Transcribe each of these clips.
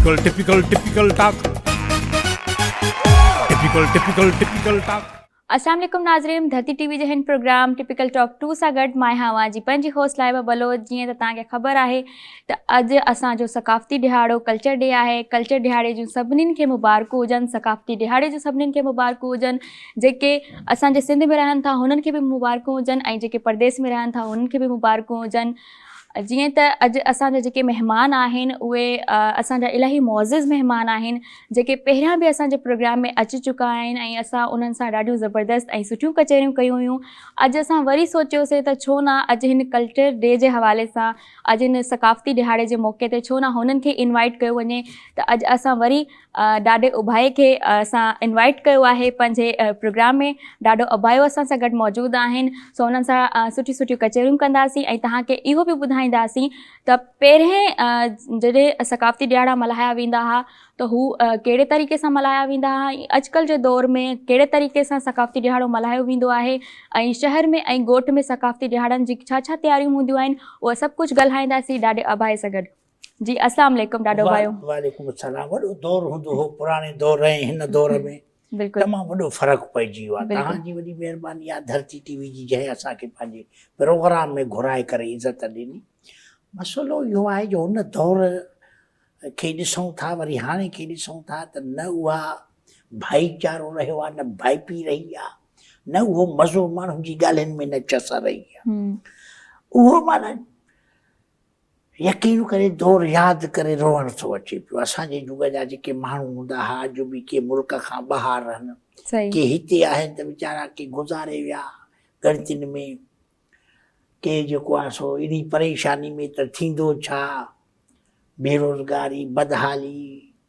Typical typical typical talk typical typical typical talk السلام عليڪم ناظرين ڌرتي ٽي وي جي هن پروگرام ٽپيڪل ٽاڪ ٽو سان گڏ مان آهيان اوهان جي پنهنجي هوسٽ لائبه بلوچ جيئن ته توهان کي خبر آهي ته اڄ اسان جو ثقافتي ڏهاڙو ڪلچر ڊي آهي ڪلچر ڏهاڙي جون سڀني کي مبارڪون هجن ثقافتي ڏهاڙي جون سڀني کي مبارڪون هجن جيڪي اسان جي سنڌ ۾ رهن ٿا هنن کي به مبارڪون هجن ۽ جيڪي پرديس ۾ رهن ٿا هنن کي به مبارڪون هجن جيئن ته اڄ اسان جا جيڪي مهمان آهن اهي اسان جا الاهي معزز مهمان آهن جيڪي پهريان به اسان جي پروگرام ۾ اچي چڪا آهن ۽ اسان انهن سان ڏاڍيون زبردست ۽ سٺيون ڪچهريون ڪيون هيون اڄ اسان وري سوچيوسين ته ڇو نه اڄ هن ڪلچر ڊي جي حوالي سان اڄ هن ثقافتي ڏهاڙي جي موقعي تي ڇو نه هنن کي انوائيٽ ڪيو وڃي ته اڄ اسان وري ڏاڏي اباهي کي اسان انوائيٽ ڪيو آهي پنهنجي پروگرام ۾ ڏاڏو اباهيو اسان سان گڏ موجود آهن سو انهن سان سٺي سٺيون ڪچهريون ڪنداسين ۽ توهان کي اهو به ٻڌائينداسين ته پهرين جڏهن ثقافتي ڏيهاڙا ملهايا ويندا هئا ته هو ڪهڙي طريقي سان ملهايا ويندا هئا ۽ اڄڪلهه جي دور ۾ ڪهڙي طريقي سان ثقافتي ڏيهاڙو ملهايو ويندو آهي ۽ شهر ۾ ۽ ڳوٺ ۾ ثقافتي ڏيهاڙن جي ڇا ڇا تياريون هونديون آهن اهو سڀ ڪجهه ڳالهائينداسين ڏاڏي اباهي سان گڏ جي اسلام عليڪم ڏاڏو ڀايو وعليڪم السلام وڏو دور هوندو هو پراڻي دور ۽ هن دور ۾ بلڪل تمام وڏو فرق پئجي ويو آهي توهان جي وڏي مهرباني آهي ڌرتي ٽي وي جي جنهن اسان کي پنهنجي پروگرام ۾ گهرائي ڪري عزت ڏني مسئلو اهو آهي جو هن دور کي ڏسون ٿا وري هاڻي کي ڏسون ٿا ته نه اها ڀائيچارو رهيو آهي نه ڀائپي رهي آهي نه اهو مزو ماڻهن جي ڳالهين ۾ نه چس رهي آهي اهو معنی يقين ڪري دور ياد ڪري روئڻ ٿو اچي پيو اسان جي جڳ جا جيڪي ماڻهو هوندا ها اڄ به ڪي ملڪ کان ٻاهر آهن ڪي هتي آهن ته ويچارا ڪي گذاري ويا ڳڻتين ۾ ڪي جيڪو آهي سو اهڙي پريشاني ۾ ته ٿيندو ڇا بيروزگاري بدحالي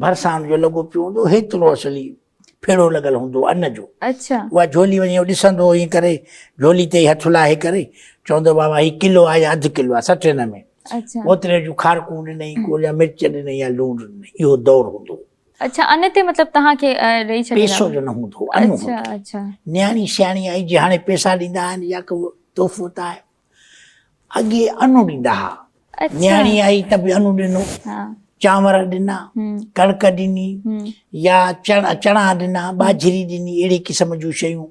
ڀرسان جو لڳو پيو هوندو هيترو اصلي ڦيڙو لڳل هوندو ان جو اچھا اها جھولي وڃي ڏسندو هو ايئن ڪري جھولي تي هٿ لاهي ڪري چوندو بابا هي ڪلو آهي يا اڌ ڪلو آهي سٽ هن ۾ اچھا اوتري جون کارڪون ڏنئي ڪو يا مرچ ڏنئي يا لوڻ ڏنئي اهو دور هوندو اچھا ان تي مطلب توهان کي ڏئي ڇڏيندا پيسو جو نه هوندو اچھا اچھا نياڻي سياڻي آئي جي هاڻي پيسا ڏيندا آهن يا ڪو تحفو ته آهي اڳي انو ڏيندا ها نياڻي آئي ته به انو ڏنو چانور ڏنا ڪڻڪ ڏني يا چڻا ڏنا ٻاجھري ڏني اهڙي قسم جون شيون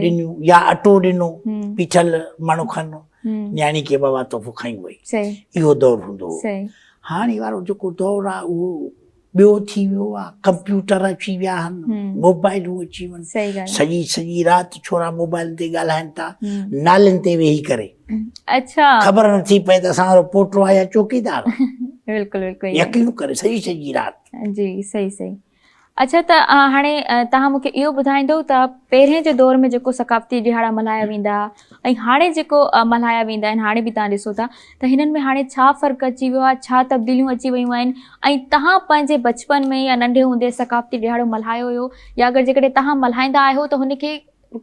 ڏنيون يا اٽو ڏنو پيٺل مڻ کن نياڻي کي بابا تحفو کائي وئي اهو دور هوندو هو هاڻي وارو جيڪو دور آهي اهو ٻيو ٿي ويو آ ڪمپيوٽر اچي ويا آهن موبائلون اچي ويون سڄي سڄي رات ڇورا موبائلن تي ڳالهائين ٿا نالين تي ويهي ڪري اچا خبر نه ٿي پئي ته اسان وارو پوٽو آهي يا چوڪيدار بلڪل بلڪل يقين ڪري سڄي سڄي رات جي صحيح صحيح اچا ته هاڻي تها مونکي اهو ٻڌائيندو ته پهرين جي دور ۾ جيڪو ثقافتي ڏهاڙا ملهايا ويندا ۽ هاڻي جيڪو ملهايا ويندا آهن هاڻي به تها ڏسو ٿا ته هنن ۾ هاڻي ڇا فرق اچي ويو آهي، ڇا تبديليون اچي ويون آهن ۽ تهان پنهنجي بچپن ۾ يا ننڍي هوندي ثقافتي ڏهاڙو ملهايو هيو يا اگر جيڪڏهن تهان ملهائيندا آهيو ته هن کي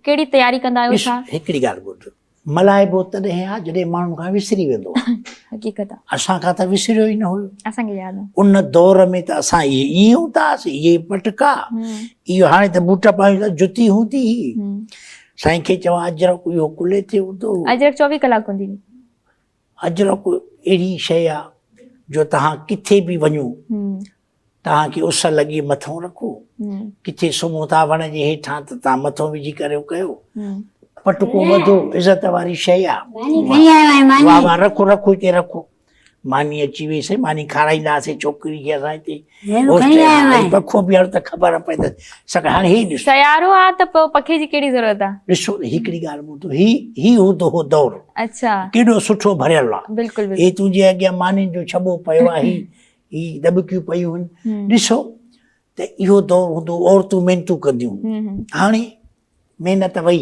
ڪهڙي تياري ڪندا آهيو ڇا؟ ڏس هڪڙي ڳالهه ٻڌ، ملهائبو تڏهن آهي جڏهن ماڻهن کان وسري ويندو آهي. حقيقت آهي. اسان کان ته وسريو ئي نه هيو. اسان کي ياد آهي. ان دور ۾ ته اسان اهي ائين هوندا هئاسين، اهي ئي پٽڪا، اهو هاڻي ته بوٽ پايون ٿا، جتي هوندي هئي. سائين کي چوان اجرڪ اهو ڪلهي تي هوندو هو. اجرڪ چوويهه ڪلاڪ هوندي هئي. اجرڪ اهڙي شيء آ جو توهان ڪٿي به وڃو توهان کي اس لڳي مٿو رکو ڪٿي سمهو ٿا وڻ جي هيٺان ته توهان مٿو وجهي ڪريو ڪيو پٽڪو وڌو عزت واري شيء آ واهه واهه رکو رکو هتي رکو ماني اچي ويسي ماني کارائينداسي ڇوڪري کي اسان هتي سيارو آ ته پوء پکي جي ڪهڙي ضرورت آ. ڏسو ته هڪڙي ڳالهه ٻڌو هي هي هوندو هو دور اڇا ڪيڏو سٺو ڀريل آ بلڪل بلڪل هي تنهنجي اڳيان مانين جو ڇٻو پيو آ هي هي ڏٻڪيون پيون هن ڏسو ته اهو دور هوندو عورتون محنتون ڪنديون هاڻي محنت وئي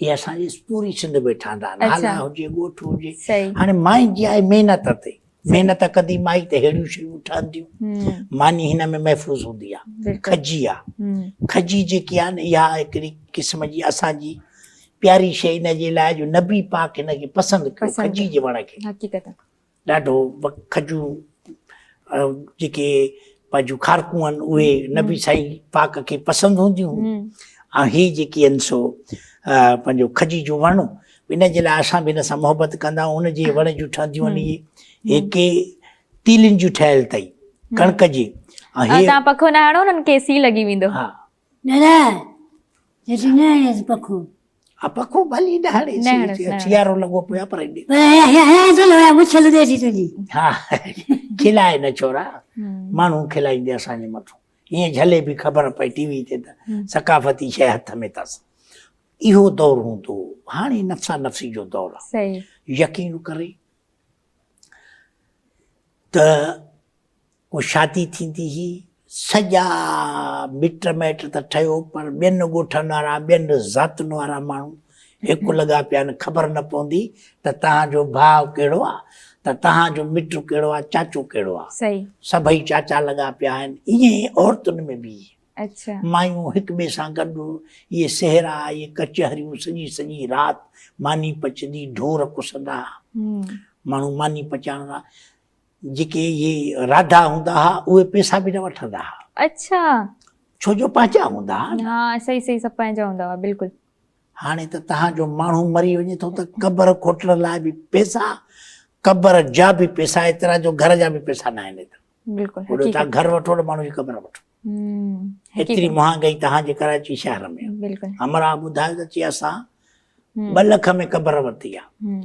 هي اسان جي پوري سنڌ ۾ ٺهندا آهن هالا هجي ڳوٺ هجي هاڻي مائي جي آهي محنت تي محنت ڪندي مائي ته ههڙيون شيون ٺهنديون ماني هن ۾ محفوظ هوندي آهي کجي آهي کجي جيڪي آهن اها هڪڙي قسم جي اسان جي پياري شيء ان جي لاء جو نبي پاڪ هن کي پسند ڪيو کجي جي وڻ کي ڏاڍو کجون جيڪي پنهنجون کارڪون آهن اهي نبي سائين پاڪ کي پسند هونديون ۽ هي جيڪي آهن سو پنهنجو کجي جو وڻ ان جي لاء اسان به ان سان محبت ڪندا آهيون ان جي وڻ جون ٺهنديون آهن اهي هيڪي تيلين جون ٺهيل اٿئي ڪڻڪ جي ۽ هي تان پکو نه هڻو انهن کي سي لڳي ويندو ها نرائي جيسين نه هڻيس پکو. ها پکو ڀلي نه هڻيس. سيارو لڳو پيو آهي پر ايڏي. پر هيا چل هيا مڇ لڏي ٿي تنهنجي. ها کلائي نه ڇورا ماڻهو کلائيندي اسان جي مٿو ائين جهلي به خبر پئي ٽي وي تي ته ثقافتي شيء هٿ ۾ اٿس. اهو دور هوندو هو هاڻي نفسا نفسي جو دور آهي. يقين ڪري ته ڪو شادي ٿيندي هئي، سڄا مٽ مائٽ ته ٺهيو پر ٻين ڳوٺن وارا، ٻين ذاتن وارا ماڻهو هڪ لڳا پيا آهن، خبر نه پوندي ته تنهان جو ڀاء ڪهڙو آ ته تنهان جو مٽ ڪهڙو آ، چاچو ڪهڙو آ. سڀئي چاچا لڳا پيا آهن. ائين ئي عورتن ۾ به مايون هڪ ٻئي سان گڏ اهي سهرا، اهي ڪچهريون سڄي سڄي رات ماني پچندي ڍور ڪسندا ها. ماڻهو ماني پچائڻ لاء جيڪي اهي راڌا هوندا ها اهي پيسا به نه وٺندا ها اڇا ڇو جو پنهنجا هوندا ها ها صحيح صحيح سڀ پنهنجا هوندا ها بلڪل هاڻي ته تهان جو ماڻهو مري وڃي ٿو ته قبر کوٽڻ لاء به پيسا قبر جا به پيسا ايترا جو گهر جا به پيسا نه آهن ايترا بلڪل هو تهان گهر وٺو نه ماڻهو جي قبر وٺو ايتري مهانگائي تهان جي ڪراچي شهر ۾ بلڪل امرا ٻڌايو ته چي اسان ٻه لک ۾ قبر ورتي آهي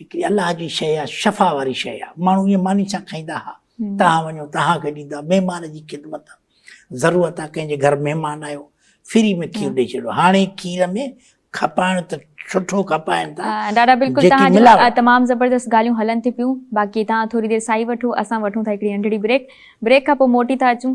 هڪڙي الله جي شيء آ، شفا واري شيء آ، ماڻهو ائين ماني سان کائيندا ها، توهان وڃو توهان کي ڏيندا، مهمان جي خدمت ضرورت آ، ڪنهن جي گهر مهمان آيو، فري ۾ کير ڏئي ڇڏيو، هاڻي کير ۾ کپائڻ ته سٺو کپائن ٿا، ڏاڏا بلڪل توهان جون تمام زبردست ڳالهيون هلن ٿيون پيون، باقي توهان ٿوري دير ساهي وٺو، اسان وٺون ٿا هڪڙي ننڍڙي بريڪ، بريڪ کان پوء موٽي ٿا اچون.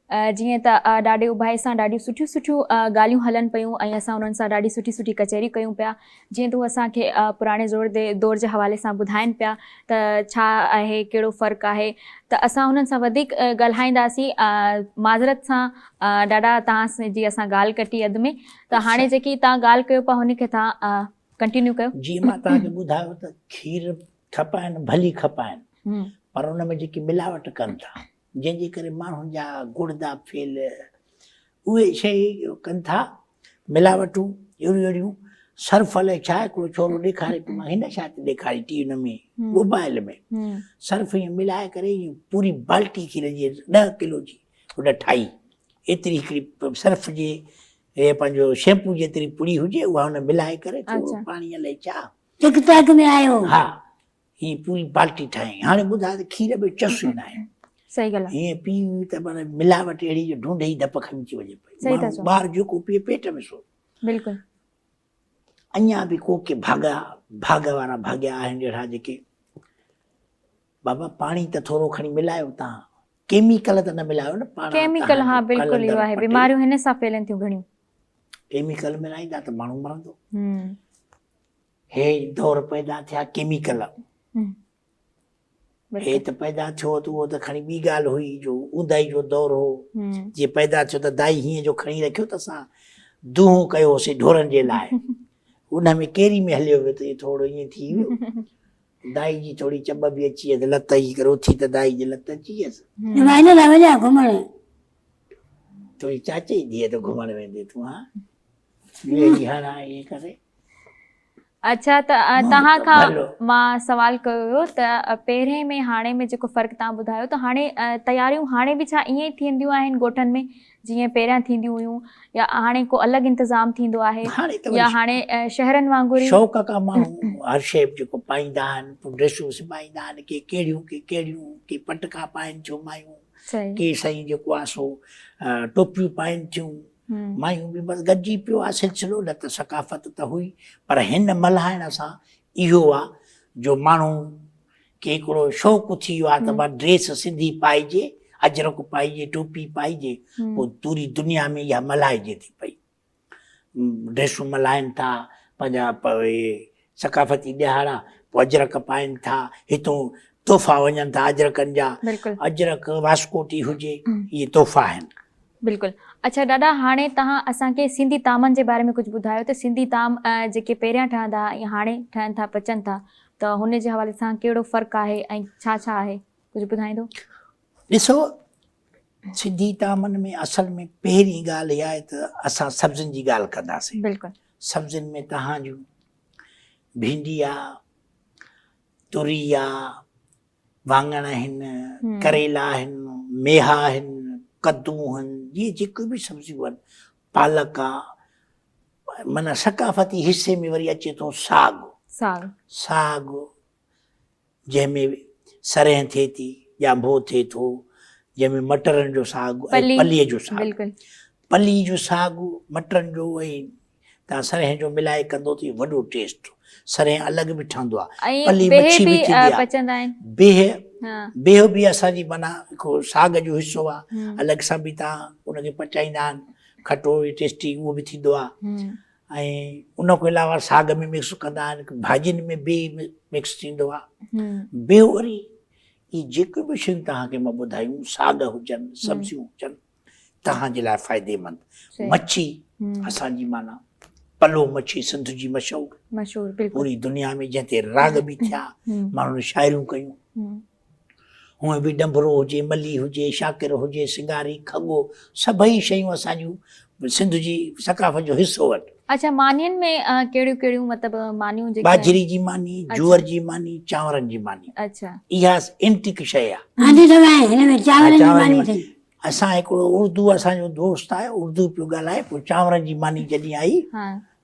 جيئن ته ڏاڍي اڀائي سان ڏاڍيون سٺيون سٺيون ڳالهيون هلن پيون ۽ اسان انهن سان ڏاڍي سٺي سٺي ڪچهريون ڪيون پيا. جيئن ته هو اسان کي پراڻي دور جي حوالي سان ٻڌائين پيا ته ڇا آهي ڪهڙو فرق آهي ته اسان انهن سان وڌيڪ ڳالهائينداسين. معذرت سان ڏاڏا توهان جي اسان ڳالهه ڪٽي اڌ ۾ ته هاڻي جيڪي توهان ڳالهه ڪيو پيا هن کي توهان ڪنٽينيو ڪيو. جيئن مان توهان کي ٻڌايو ته کير ٺپائن ڀلي کپائن پر ان ۾ جيڪي ملاوٽ ڪن ٿا جنهن جي ڪري ماڻهن جا گڙدا ڦيل اهي شيء ڪن ٿا ملاوٽون اهڙيون اهڙيون صرف الائي ڇا هڪڙو ڇورو ڏيکاري پيو مان هن ڇا ٿي ڏيکاري ٽي ان ۾ موبائل ۾ صرف ائين ملائي ڪري ائين پوري بالٽي کير جي ڏهه ڪلو جي هن ٺاهي ايتري هڪڙي صرف جي اهي پنهنجو شيمپو جيتري پڙي هجي اها هن ملائي ڪري ٿورو پاڻي الائي ڇا ٽڪ ٽاڪ ۾ آيو ها هي پوري بالٽي ٺاهيائين هاڻي ٻڌاء ته کير ۾ چس ئي ناهي صحيح ڳالهه هي پي ته معنی ملاوٽ اهڙي جو ڍونڍي ئي ڌپ کڻي ٿي وڃي پئي ٻار جيڪو پي پيٽ ۾ سو بلڪل اڃا به ڪو ڪي ڀاڳا ڀاڳ وارا ڀاڳيا آهن اهڙا جيڪي بابا پاڻي ته ٿورو کڻي ملايو تان ڪيميڪل ته نه ملايو نه پاڻ ڪيميڪل ها بلڪل اهو آهي بيماريون هن سان ڦهلن ٿيون گهڻيون ڪيميڪل ملائيندا ته ماڻهو مرندو هي دور پيدا ٿيا ڪيميڪل هي ته پيدا ٿيو ته اهو ته کڻي ٻي ڳالهه هئي جو اونداهي جو دور هو جي پيدا ٿيو ته دائي هيئن جو کڻي رکيو ته اسان دونهون ڪيوسي ڍورن جي لاء ان ۾ ڪيري ۾ هليو ويو ته ٿورو ائين ٿي ويو دائي جي ٿوري چٻ به اچي ويس لت اچي ڪري اٿي ته دائي جي لت اچي ويس ويندو نه وڃا گهمڻ تنهنجي چاچي جي ڌيء ته گهمڻ ويندي تون ها ٻيو ڏينهن هاڻ ائين ڪري اچا ته توهان کان مان سوال ڪيو هيو ته پهرين ۾ هاڻي ۾ جيڪو فرق توهان ٻڌايو ته هاڻي تياريون هاڻي به ڇا ائين ئي ٿينديون آهن ڳوٺن ۾ جيئن پهريان ٿينديون هيون يا هاڻي ڪو الڳ انتظام ٿيندو آهي يا هاڻي شهرن وانگر ئي شوق ڪا ماڻهو هر شي جيڪو پائيندا آهن ڊريسون سبائيندا آهن ڪي ڪهڙيون ڪي ڪهڙيون ڪي پٽڪا پائين ٿيون مايون ڪي سائين جيڪو آهي سو ٽوپيون پائين ٿيون مايون به بس گڏجي پيو آ سلسلو نه ته ثقافت ته هئي پر هن ملهائڻ سان اهو آ جو ماڻهو کي هڪڙو شوق اٿي ويو آ ته مان ڊريس سنڌي پائجي اجرڪ پائجي ٽوپي پائجي پو پوري دنيا ۾ اها ملهائجي ٿي پئي ڊريسون ملهائن ٿا پنهنجا ثقافتي ڏيهاڙا پوء اجرڪ پائين ٿا، هتون تحفا وڃن ٿا اجرڪن جا، اجرڪ، واسڪوٽي هجي، اهي تحفا آهن. بلڪل. اڇا ڏاڏا هاڻي توهان اسان کي سنڌي طعامن جي باري ۾ ڪجهه ٻڌايو ته سنڌي طعام جيڪي پهريان ٺهندا ها ۽ هاڻي ٺهن ٿا پچن ٿا ته هن جي حوالي سان ڪهڙو فرق آهي ۽ ڇا ڇا آهي ڪجهه ٻڌائيندو؟ ڏسو سنڌي طعامن ۾ اصل ۾ پهرين ڳالهه اها آهي ته اسان سبزين جي ڳالهه ڪنداسين. بلڪل. سبزين ۾ تهان جون ڀينڊي آ، تري آ، واڱڻ آهن، ڪريلا آهن، ميها آهن، ڪدو آهن، جي جيڪي به سبزيون آهن، پالڪ آ، معنيٰ ثقافتي حصي ۾ وري اچي ٿو ساڳ، ساڳ، جنهن ۾ سرهين ٿئي ٿي، ڄانڀو ٿئي ٿو، جنهن ۾ مٽرن جو ساڳ ۽ پليء جو ساڳ، پلي جو ساڳ، مٽرن جو ۽ تان سرهين جو ملائي ڪندو ته وڏو ٽيسٽ، سرهين الڳ به ٺهندو آهي، پلي مڇي به ٿيندي آهي، بيهه، بيهه به اسان جي معنيٰ هڪ ساڳ جو حصو آهي، الڳ سان به تان ان کي پچائيندا آهن، کٽو ٽيسٽي اهو به ٿيندو آهي، ۽ ان کان علاوه ساڳ ۾ مڪس ڪندا آهن ڀاڄين ۾ به مڪس ٿيندو آهي ٻيو وري هي جيڪي به شيون توهان کي مان ٻڌايون ساڳ هجن سبزيون هجن توهان جي لاء فائديمند مڇي اسان جي معنيٰ پلو مڇي سنڌ جي مشهور مشهور پوري دنيا ۾ جنهن تي راڳ به ٿيا ماڻهن شاعريون ڪيون هونئن به ڏنڀرو هجي، ملي هجي، شاڪر هجي، سنگاري، کڳو، سڀئي شيون اسان جون سنڌ جي ثقافت جو حصو آهن. اڇا مانين ۾ ڪهڙيون ڪهڙيون مطلب مانيون جيڪي باجري جي ماني، جوئر جي ماني، چانورن جي ماني. اڇا. اها انٽيڪ شيء آهي. هاندي ته ويا آهن هن ۾ چانورن جي ماني ٿي. اسان هڪڙو اردو اسان جو دوست آهي اردو پيو ڳالهائي پوء چانورن جي ماني جڏهن آئي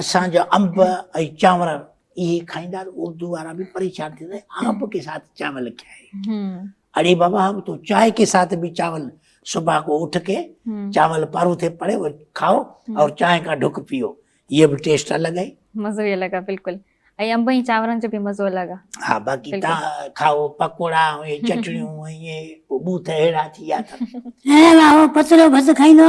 اسان جو انب ۽ چانور اهي کائيندا اردو وارا به پريشان ٿيندا آنب کي ساٿ چانول کائي اڙي بابا اب تو چائي کي ساٿ به چانول صبح کو اٺ کي چانول پارو تھي پڙي وہ کائو اور چائي کا ڍڪ پيو یہ به ٽيسٽ الگ آهي مزو ئي الگ آهي بلڪل ۽ انب ۽ چانورن جو به مزو الگ آهي ها باقي تا کائو پڪوڙا ۽ چٽڻيون ۽ بوٿ اهڙا ٿي ويا اٿن اي واهو پترو ڀت کائيندو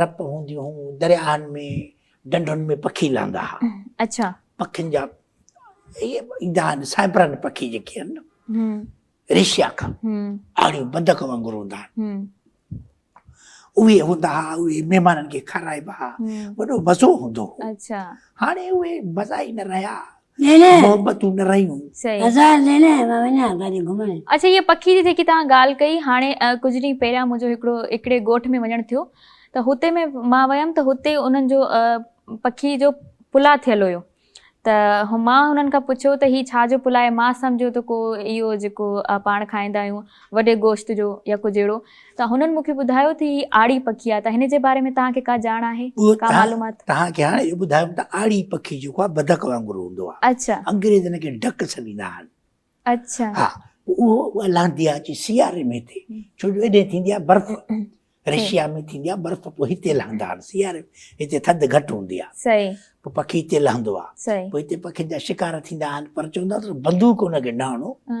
رپ هونديون هون درياهن ۾ ڍنڍن ۾ پکي لهندا ها اڇا پکين جا ايندا آهن سائبرن پکي جيڪي آهن نه ريشيا کان آڙيون بدڪ وانگر هوندا آهن اهي هوندا ها اهي مهمانن کي کارائبا ها وڏو مزو هوندو هو اڇا هاڻي اهي مزا ئي نه رهيا محبتون ڏرائيون. هزار ليلي مان وڃان ڪاڏي گهمڻ. اڇا هيء پکي جي جيڪي توهان ڳالهه ڪئي هاڻي ڪجهه ڏينهن پهريان منهنجو هڪڙو هڪڙي ڳوٺ ۾ وڃڻ ٿيو ته هتي ۾ مان ويم ته هتي انهن جو پکي جو پلاء ٿيل هيو ته مان انهن کان پڇيو ته هي ڇا جو پلاء مان سمجهيو ته ڪو اهو جيڪو پاڻ کائيندا آهيون وڏي گوشت جو يا ڪجهه اهڙو ته هنن مون کي ٻڌايو ته هي آڙي پکي آهي ته هن جي باري ۾ توهان کي ڪا ڄاڻ آهي ڪا معلومات. توهان کي هاڻي اهو ٻڌايم ته آڙي پکي جيڪو آهي بدڪ وانگر هوندو آهي اڇا. انگريز هن کي ڊڪ سڏيندا آهن اڇا. ها پوء اها لهندي آهي اچي سياري ۾ هتي ڇو جو ايڏي ٿيندي آهي برف رشيا ۾ ٿيندي آهي برف پوء هتي لهندا آهن سياري ۾ هتي ٿڌ گهٽ هوندي آهي صحيح پوء پکي هتي لهندو آهي صحيح پوء هتي پکين جا شڪار ٿيندا آهن پر چوندا آهن ته بندوق هن کي نه هڻو ها.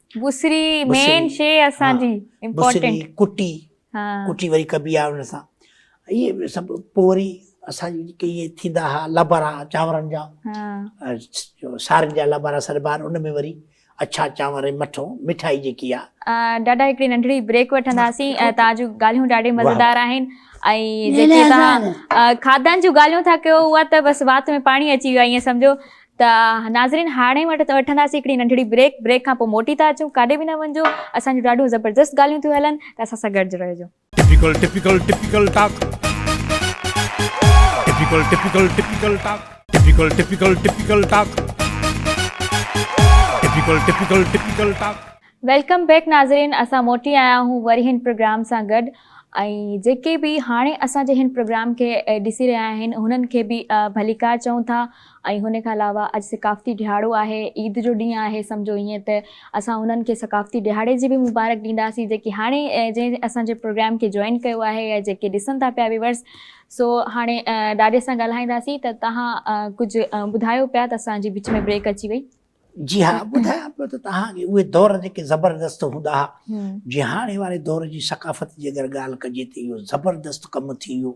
بصري مين شي اسان جي امپورٽنٽ ڪٽي ڪٽي وري ڪبي آ ان سان اهي سڀ پوء وري اسان جي جيڪي اهي ٿيندا ها لبرا چانورن جا سارن جا لبرا سڏبا آهن ان ۾ وري اڇا چانور ۽ مٺو مٺائي جيڪي آهي ڏاڏا هڪڙي ننڍڙي بريڪ وٺنداسين تان جو ڳالهيون ڏاڍي مزيدار آهن ۽ جيڪي تان کاڌن جون ڳالهيون ٿا ڪيو اها ته بس وات ۾ پاڻي اچي ويو ائين سمجهو ته ناظرين هاڻي وٺنداسين هڪڙي ننڍڙي بريڪ بريڪ کان پوء موٽي ٿا اچون ڪاڏي به نه وڃجو اسان جون ڏاڍيون زبردست ڳالهيون ٿيون هلن ته اسان سان گڏج رهجو. Typical typical typical talk typical typical typical talk typical typical typical talk typical typical typical talk. Welcome back ناظرين اسان موٽي آيا آهون وري هن پروگرام سان گڏ ۽ جيڪي به هاڻي اسان جي هن پروگرام کي ڏسي رهيا آهن هنن کي به ڀليڪار چئون ٿا. ۽ هن کان علاوه اڄ ثقافتي ڏهاڙو آهي، عيد جو ڏينهن آهي، سمجهو ائين ته اسان انهن کي ثقافتي ڏهاڙي جي به مبارڪ ڏينداسين جيڪي هاڻي جنهن اسان جي پروگرام کي جوائن ڪيو آهي يا جيڪي ڏسن ٿا پيا ويورز سو هاڻي ڏاڏي سان ڳالهائينداسين ته توهان ڪجهه ٻڌايو پيا ته اسان جي وچ ۾ بريڪ اچي وئي. جي ها ٻڌايان پيو ته توهان کي اهي دور جيڪي زبردست هوندا ها جي هاڻي واري دور جي ثقافت جي اگر ڳالهه ڪجي ته اهو زبردست ڪم ٿي ويو.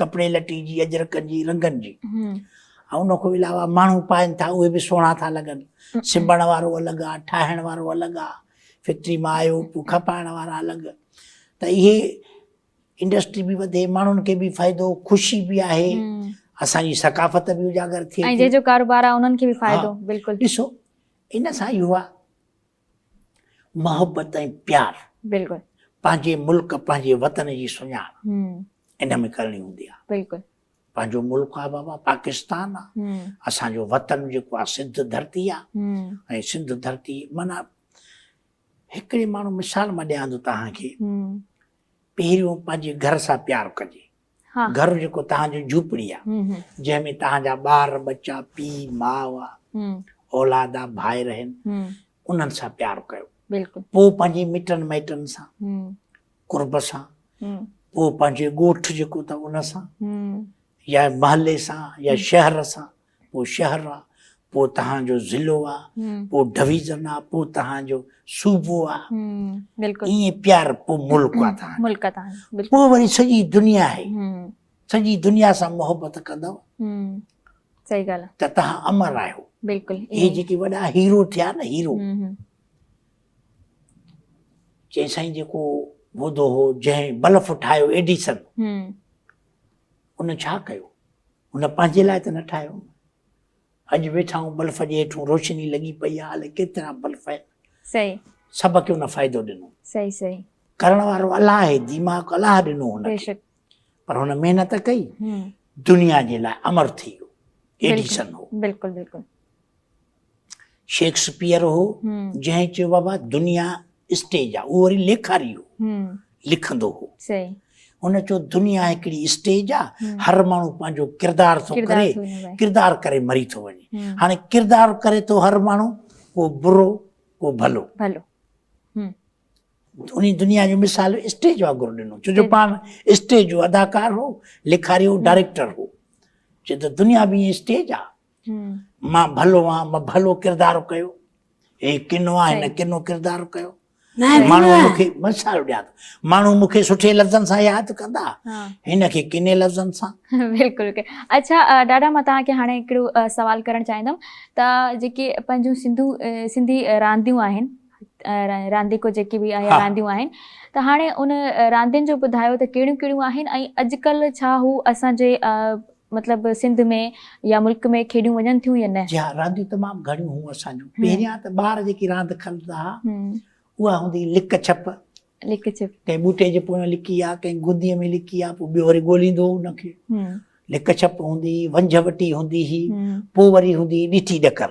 ڪپڙي لٽي جي، اجرڪن جي، رنگن جي ۽ ان کان علاوه ماڻهو پائن ٿا اهي به سهڻا ٿا لڳن. سبڻ وارو الڳ آ، ٺاهڻ وارو الڳ آ، فيڪٽري مان آيو پوء کپائڻ وارا الڳ ته اهي انڊسٽري به وڌي ماڻهن کي به فائدو خوشي به آهي اسان جي ثقافت به اجاگر ٿئي ۽ جنهن جو ڪاروبار آ انهن کي به فائدو بلڪل ڏسو ان سان اهو آ محبت ۽ پيار بلڪل پنهنجي ملڪ پنهنجي وطن جي سڃاڻ ان ۾ ڪرڻي هوندي آهي بلڪل پنهنجو ملڪ آ بابا پاڪستان آ اسان جو وطن جيڪو آ سنڌ ڌرتي آ ۽ سنڌ ڌرتي معنی هڪڙي ماڻهو مثال مان ڏيان ٿو توهان کي پهريون پنهنجي گهر سان پيار ڪجي گهر جيڪو توهان جو جهوپڙي آ جنهن ۾ توهان جا ٻار ٻچا پيء ماء آ اولاد آ ڀائر اهن انهن سان پيار ڪيو پوء پنهنجي مٽن مائٽن سان قرب سان پوء پنهنجي ڳوٺ جيڪو اٿو ان سان يا محلي سان يا شهر سان پوء شهر آ، پوء توهان جو ضلعو آ، پوء ڊويزن آ، پوء توهان جو صوبو آ، ائين پيار پوء ملڪ آ توهان جو، پوء وري سڄي دنيا آهي، سڄي دنيا سان محبت ڪندؤ ته توهان امر آهيو. اهي جيڪي وڏا هيرو ٿيا نه هيرو، چئي سائين جيڪو ٻڌو هو جنهن بلف ٺاهيو ايڊيسن ان ڇا ڪيو؟ هن پنهنجي لاء ته نه ٺاهيو نه. اڄ ويٺا آهيون بلف جي هيٺون روشني لڳي پئي آهي الاء ڪيترا بلف آهن. صحيح. سڀ کي هن فائدو ڏنو. صحيح صحيح. ڪرڻ وارو الله آهي ديماغ الله ڏنو هن کي. بيشڪ. پر هن محنت ڪئي دنيا جي لاء امر ٿي ويو ايڊيسن هو. بلڪل بلڪل. شيڪسپيئر هو، جنهن چيو بابا دنيا اسٽيج آ، اهو وري ليکاري هو، لکندو هو. هن چيو دنيا هڪڙي اسٽيج آ، هر ماڻهو پنهنجو ڪردار ٿو ڪري، ڪردار ڪري مري ٿو وڃي. هاڻي ڪردار ڪري ٿو هر ماڻهو، ڪو برو، ڪو ڀلو. انهي دنيا جو مثال اسٽيج وانگر ڏنو، ڇو جو پاڻ اسٽيج جو اداڪار هو، ليکاري هو، ڊائريڪٽر هو. چيو ته دنيا به ائين اسٽيج آ، مان ڀلو آهيان مان ڀلو ڪردار ڪيو هي ڪنو آهي هن ڪنو ڪردار ڪيو ماڻهو مون کي مثال ڏيان ماڻهو مون کي سٺي لفظن سان ياد ڪندا هن کي ڪني لفظن سان بلڪل اچھا ڏاڍا مان توهان کي هاڻي هڪڙو سوال ڪرڻ چاهيندم ته جيڪي پنهنجون سنڌو سنڌي رانديون آهن رانديڪو جيڪي به آهي رانديون آهن ته هاڻي ان راندين جو ٻڌايو ته ڪهڙيون ڪهڙيون آهن ۽ اڄڪلهه ڇا هو اسانجي مطلب سنڌ ۾ يا ملڪ ۾ کيڏيون وڃن ٿيون يا نه؟ جي ها رانديون تمام گهڻيون هون اسان جون پهريان ته ٻار جيڪي راند کلندا ها اها هوندي هئي لڪ ڇپ لڪ ڇپ ڪنهن ٻوٽي جي پويان لڪي يا ڪنهن گندي ۾ لڪي يا پوء ٻيو وري ڳوليندو هو ان کي لڪ ڇپ هوندي هئي ونجهه وٽي هوندي هئي پوء وري هوندي هئي ڏٺي ڏڪر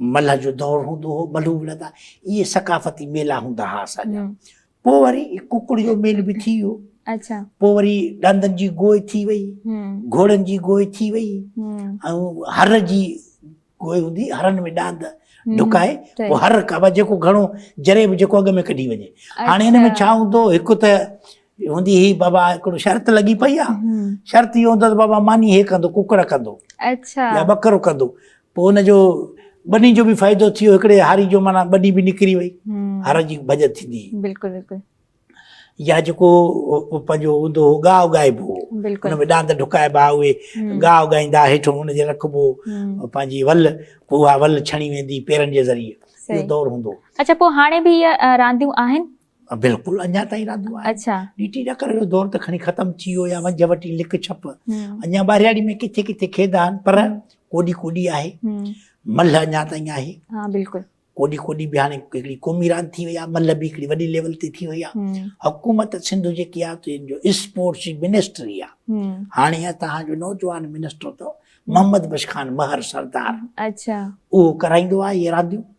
ملهه جو دور هوندو هو، ملهون وڙهندا، اهي ثقافتي ميلا هوندا ها اسان جا. پوء وري ڪڪڙ جو ميلو به ٿي ويو. پوء وري ڏاندن جي گوء ٿي وئي، گهوڙن جي گوء ٿي وئي ۽ هر جي گوء هوندي، هرن ۾ ڏاند ڍڪائي پوء هر ڪبا جيڪو گهڻو جري به جيڪو اڳ ۾ ڪڍي وڃي. هاڻي هن ۾ ڇا هوندو هو، هڪ ته هوندي هي بابا هڪڙو شرط لڳي پئي آ شرط هي هوندو ته بابا ماني هي ڪندو ڪڪڙ ڪندو اچھا يا ٻڪرو ڪندو پو ان جو ٻني جو به فائدو ٿيو هڪڙي هاري جو معنی ٻني به نڪري وئي هر جي بجت ٿيندي بلڪل بلڪل يا جيڪو پنهنجو هوندو هو گاهه اگائبو هو ان ۾ ڏاند ڍڪائبا اهي گاهه اگائيندا هيٺ ان جي رکبو پنهنجي ول پو اها ول ڇڻي ويندي پيرن جي ذريعي اهو دور هوندو اچھا پو هاڻي به اهي رانديون آهن بلڪل اڃا تائين رھندو آھي. اچھا. ڊي ٽي ڏڪر جو دور ته کڻي ختم ٿي ويو يا ونجھه وٽي لڪ ڇپ. اڃا ٻاھرياڙي ۾ ڪٿي ڪٿي کيدا آھن پر ڪوڏي ڪوڏي آھي. ملھه اڃا تائين آھي. ھا بلڪل. ڪوڏي ڪوڏي به ھاڻي ھڪڙي قومي راند ٿي وئي آھي. ملھه به ھڪڙي وڏي ليول تي ٿي وئي آھي. حڪومت سنڌ جيڪي آھي تنھن جو اسپورٽس جي منسٽري آھي. ھاڻي ھتان جو نوجوان منسٽر اٿو محمد بخش خان مھر سردار. اچھا. اھو ڪرائيندو آھي اھي رانديون.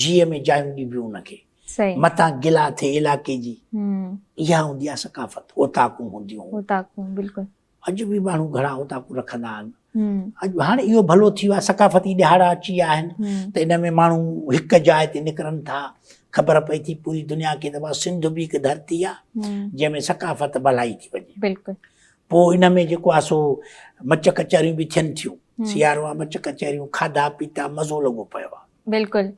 جيء ۾ جايون ڏبيون ان کي. متان گلا ٿئي علائقي جي. اها هوندي آهي ثقافت. اوطاقون هونديون. اوطاقون بلڪل. اڄ به ماڻهو گهڻا اوطاقون رکندا آهن. اڄ هاڻي اهو ڀلو ٿي ويو آهي ثقافتي ڏهاڙا اچي ويا آهن ته ان ۾ ماڻهو هڪ جاء تي نڪرن ٿا. خبر پئي ٿي پوري دنيا کي ته سنڌ به هڪ ڌرتي آهي جنهن ۾ ثقافت ڀلائي ٿي وڃي. بلڪل. پوء ان ۾ جيڪو آهي سو مچ ڪچهريون به ٿين ٿيون. سيارو آهي مچ ڪچهريون، کاڌا پيتا، مزو لڳو پيو آهي. بلڪل.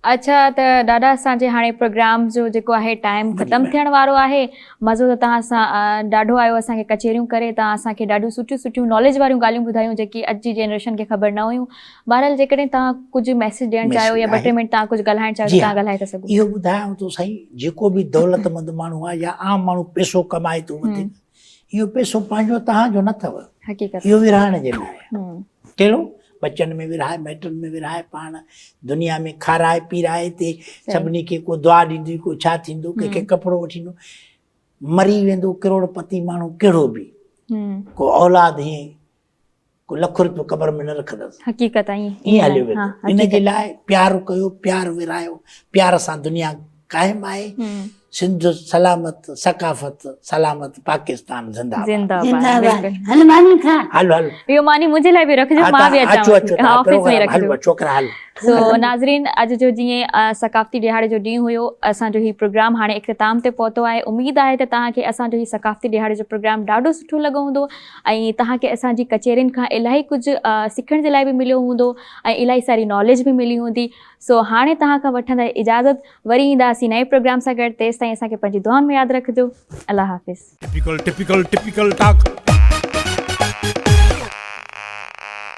اڇا ته ڏاڏا اسان جي هاڻي پروگرام جو جيڪو آهي ٽائيم ختم ٿيڻ وارو آهي. مزو ته توهان سان ڏاڍو آيو اسان کي ڪچهريون ڪري توهان اسان کي ڏاڍيون سٺيون سٺيون ناليج واريون ڳالهيون ٻڌايون جيڪي اڄ جي جنريشن کي خبر نه هيون. بهرحال جيڪڏهن توهان ڪجهه ميسيج ڏيڻ چاهيو يا ٻه ٽي منٽ توهان ڪجهه ڳالهائڻ چاهيو ته توهان ڳالهائي ٿا سگهو. اهو ٻڌايانو ٿو سائين جيڪو به دولت مند ماڻهو آهي يا عام ماڻهو پيسو ڪمائي ٿو وڌيڪ اهو پيسو پنهنجو توهان جو نه اٿو. حقيقت. اهو ورهائڻ جي لاء آهي. ڪهڙو؟ ٻچن ۾ ورهائي، مائٽن ۾ ورهائي، پاڻ دنيا ۾ کارائي پيرائي هتي سڀني کي ڪو دعا ڏيندي ڪو ڇا ٿيندو ڪنهن کي ڪپڙو وٺي ڏيندو. مري ويندو ڪروڙ پتي ماڻهو ڪهڙو به ڪو اولاد هيئن لک روپيو قبر ۾ نه رکندس. حقيقت ائين ائين هليو ويندو ها ان جي لاء حقيقت. پيار ڪيو پيار ورهايو پيار سان دنيا قائم آهي هم. سنڌ سلامت ثقافت سلامت پاڪستان زنده آباد. زنده آباد زنده آباد بلڪل. هل ماني کاء. هل هل اهو ماني منهنجي لاء به رکجو ها مان به تان اچو اچان اچو ٿي ها تان آفيس ۾ پروگرام هل رکجو. ڇوڪرا هل. سو ناظرين اڄ جو جيئن ثقافتي ڏهاڙي جو ڏينهن هيو اسان جو هي پروگرام هاڻي اختتام تي پهتو آهي اميد آهي ته توهان کي اسان جو هي ثقافتي ڏهاڙي جو پروگرام ڏاڍو سٺو لڳو هوندو ۽ توهان کي اسان جي ڪچهرين کان الاهي ڪجهه سکڻ جي لاء به مليو هوندو ۽ الاهي ساري ناليج به ملي هوندي سو هاڻي توهان کان وٺندا اجازت وري اينداسين نئين پروگرام سان گڏ تيستائين اسان کي پنهنجي دعائن ۾ ياد رکجو الله حافظ. Typical Typical Typical Talk.